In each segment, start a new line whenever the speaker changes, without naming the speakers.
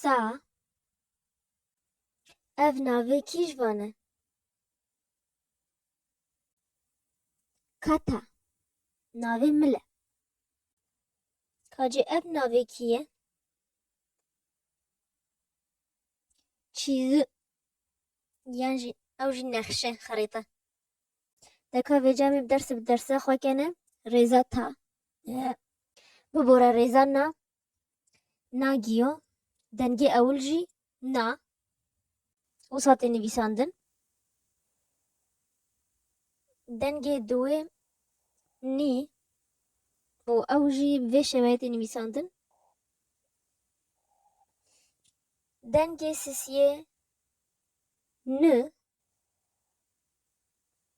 Sa Ev navê kî ji van e? Kata Navê min e. Kacê ev navê kî ye? Çîzi Yan jî ew jî nexşe xerîte. Deka vê camê bi derse bi derse xwe kene rêza ta. Bibora rêza na na giyo dengê ewil jî na û satê nivîsandin. Dengê duwê nî û ew jî vê şeweyê tê nivîsandin. Dengê sisiyê ni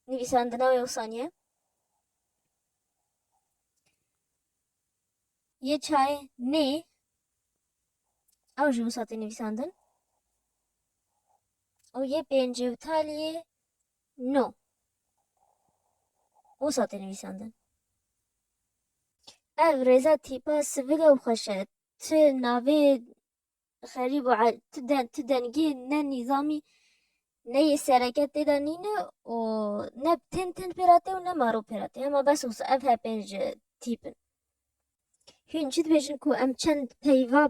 Nivîsandina wê wsaniye. Yê çayê nê ew ji wisa tê nivîsandin û yê pêncê û taliyê no wisa tê nivîsandin. Ev rêza tîpa sivil e û xweş e. Ti navê xerîb û ti dengê ne nîzamî ne yê sereke tê de nîne û ne tên tên pê re tê û ne maro pê re tê hema bes wisa ev hepê ji tîp in. Hûn çi dibêjin ku em çend peyva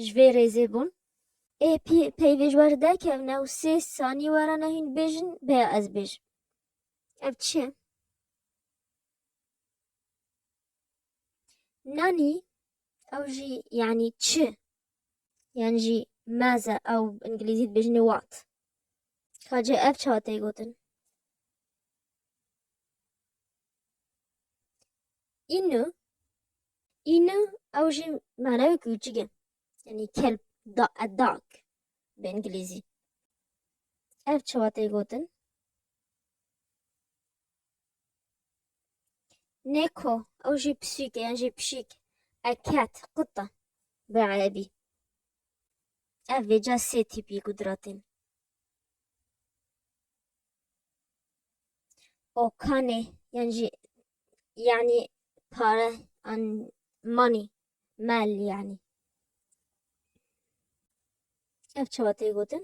ji vê rêzê bûn ê pî peyvê ji wer derkevne û sê sanî were ne hûn bêjin bêya ez bêjim. Ev çi ye? Nanî ew jî yanî çi? Yan jî meze ew îngilîzî dibêjin wat. Kacê ev çawa tê gotin? Înu Înu ew jî manewê kûçik e. Yanî kelp da a dog bi îngilîzî. Ev çawa tê gotin? Neko, ew jî pisîk e yan jî pişîk e cat, quta bi erebî. Ev vêca sê tîpî qudratên. Okanê yan jî yanî pare an money, mal yanî. Ev çawa tê gotin?